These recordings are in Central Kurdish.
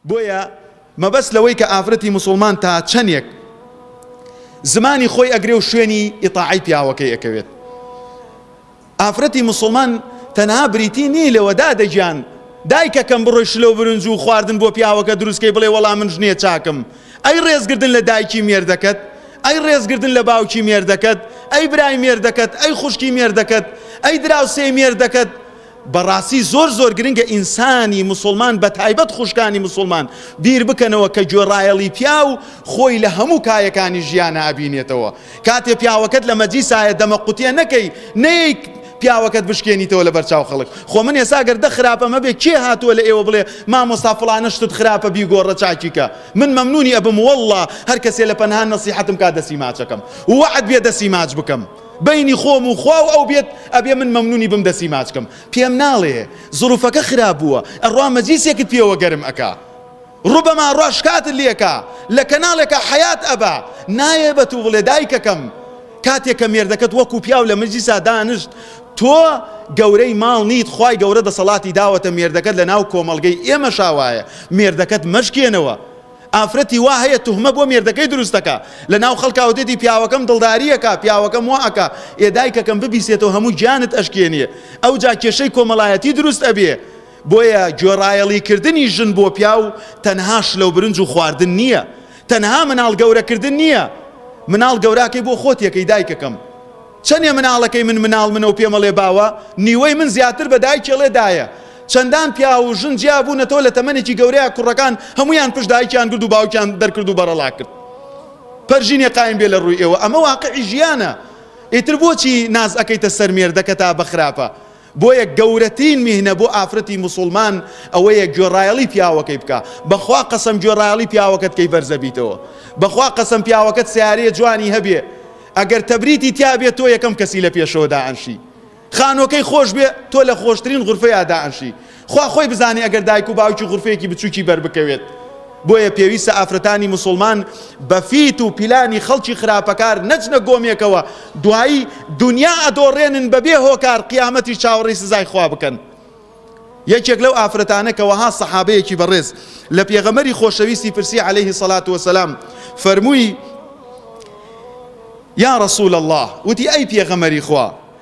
بۆیە مەبەست لەوەی کە ئافرەتی موسوڵمان تا چەندێک زمانی خۆی ئەگرێ و شوێنی ئیتاعی پیاوەکەی ئەکەوێت ئافرەتی موسڵمان تەنها بریتی نی لەوەدا دەگیان دایکەکەم بڕۆی شلو برنج و خواردن بۆ پیاوەکە دروستکەی بڵێ وەڵام من ژنیە چاکم ئەی ڕێزگردن لە دایکی مێردەکەت ئەی ڕێزگردن لە باوکی مێردەکەت ئەی برای مێردەکەت ئەی خوشکی مێردەکەت ئەی دراوسێ مێردەکەت بەڕاستی زۆر زۆر گرنگە ئینسانی موسڵمان بەتایبەت خوشکانی موسڵمان بیر بکەنەوە کە گوێڕایەڵی پیاو خۆی لە هەموو کایەکانی ژیانە ئەبینێتەوە کاتێ پیاوەکەت لە مەجلیسایە دەمە قوتیە نەکەی نەیەیک پیاوەکەت بشکێنیتەوە لە بەرچاو خەڵک خۆ من ێسا گەر دە خراپە مەبێ کێ هاتووە لە ئێوە بڵێ مامۆستا فڵانە شتت خراپە بیگۆڕە چاکیکە من مەمنونی ئەبم واللە هەر کەسێ لە پەنهان نەسیحەتم کا دەسی ماچەکەم وعد بێ دەسی ماچ بکەم بەینی خۆم و خوا و ئەو بێت ئەبێ من مەمنونی بم دەسی ماچ کەم پێم ناڵێ زروفەکە خراپ بووە ئەڕا مەجیسێکت پێوە گەرم ئەکا ڕوبەما ڕا شکاتت لێکا لە کەناڵێکا حەیات ئەبا نایێ بە تو بڵێ دایکەکەم کاتێ کە مێردەکەت وەکو پیاو لە مەجیسا دانشت تۆ گەورەی ماڵ نیت خوای گەورە دەسەڵاتی داوەتە مێردەکەت لە ناو کۆمەڵگەی ئێمەشا وایە مێردەکەت مەشکێنەوە ئافرەتی وا هەیە توهمە بۆ مێردەکەی دروست دەکا لە ناو خەڵکا و دێتی پیاوەکەم دڵداری ئەکا پیاوەکەم وا ئەکا ئێ دایکەکەم ببیسێتەوە هەموو گیانت ئەشکێنێ ئەوجا کێشەی کۆمەڵایەتی دروست ئەبێ بۆیە گوێڕایەڵی کردنی ژن بۆ پیاو تەنها شلە و برنج و خواردن نییە تەنها مناڵ گەورە کردن نییە مناڵ گەوراکەی بۆ خۆت یەکەی دایکەکەم. چەنێ مناڵەکەی من مناڵ منە و پێمەڵێ باوە، نیوەی من زیاتر بە دایکیڵێ دایە. چەندان پیاو و ژن جیا بوونەتەوە لە تەمەنێکی گەورەیا کوڕەکان هەموویان پشت دایکیان گرد و باوکیان دەرکرد و بەڕەڵا کرد. پەرژینێ قایم بێ لە ڕووی ئێوە ئەمە واقعی ژیانە. ئیتر بۆچی ناز ئەکەیتە سەر مێردەکەتا بە خراپە؟ بۆیە گەورەترین میهنە بۆ ئافرەتی موسوڵمان ئەوەیە گوێڕایەڵی پیاوەکەی بکا بەخوا قەسەم گوێڕایەڵی پیاوەکەت کەی بەرزە بیتەوە بەخوا قەسەم پیاوەکەت سیارەیە جوانی هەبێ ئەگەر تەبریتی تیا بێ تۆ یەکەم کەسی لە پێشەوە دائەنشی خانۆکەی خۆش بێ تۆ لە خۆشترین غرفەیە دائەنشی خوا خۆی بزانێ ئەگەر دایک و باوکی غورفەیەکی بچووکی بەربکەوێت. بۆیە پێویستە ئافرەتانی موسڵمان بە فیت و پیلانی خەڵکی خراپەکار نەچنە گۆمێکەوە دوایی دنیا ئەدۆڕێنن بەبێ هۆکار قیامەتی چاوەڕێی سزای خوا بکەن. یەکێک لەو ئافرەتانە کە وەها سەحابەیەکی بەڕێز لە پێغەمەری خۆشەویستی پرسی عليهەیهی سەلات وەسەلام فەرمووی یا رسول الله وتی ئەی پێغەمەری خوا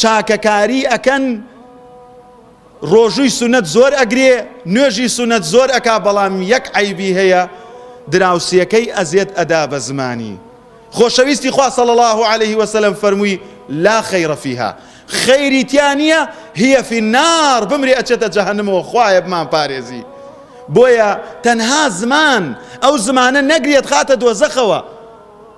چاکەکاری ئەکەن ڕۆژووی سونەت زۆر ئەگرێ نوێژی سونەت زۆر ئەکا بەڵام یەک عەیبی هەیە دراوسێکەی ئەزێت ئەدا بە زمانی خۆشەویستی خوا صلی الله علیه وسلم فەرمووی لا خیر فیها خیری تیا نییە هی فی النار بمرێ ئەچێتە جەهەنمەوە خوایە بمان پارێزی بۆیە تەنها زمان ئەو زمانە نەگرێت خاتە دۆزەخەوە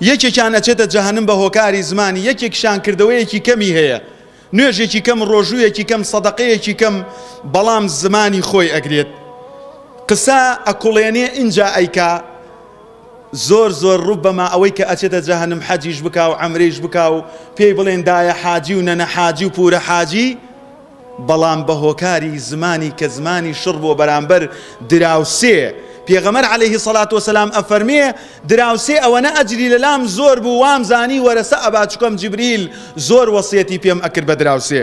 یەکێکیان ئەچێتە جەهەنم بە هۆکاری زمانی یەکێکیشان کردەوەیەکی کەمی هەیە نوێژێکی کەم ڕۆژوویەکی کەم سەدەقەیەکی کەم بەڵام زمانی خۆی ئەگرێت قسە ئەکوڵێنێ ئینجا ئەیکا زۆر زۆر ڕوب بەما ئەوەی کە ئەچێتە جەهەنم حەجیش بکا و عەمرەیش بکا و پێی بڵێن دایە حاجی و نەنە حاجی و پورە حاجی بەڵام بە هۆکاری زمانی کە زمانی شڕ بووە بەرامبەر دراوسێ، پێغەمبەر علیە الصلوة والسلام ئەفەرمێ، دراوسێ ئەوەنە ئەجری لە لام زۆر بوو وام زانی وەرەسە ئەبا چکۆم جبریل زۆر وەسیەتی پێم ئەکرد بە دراوسێ،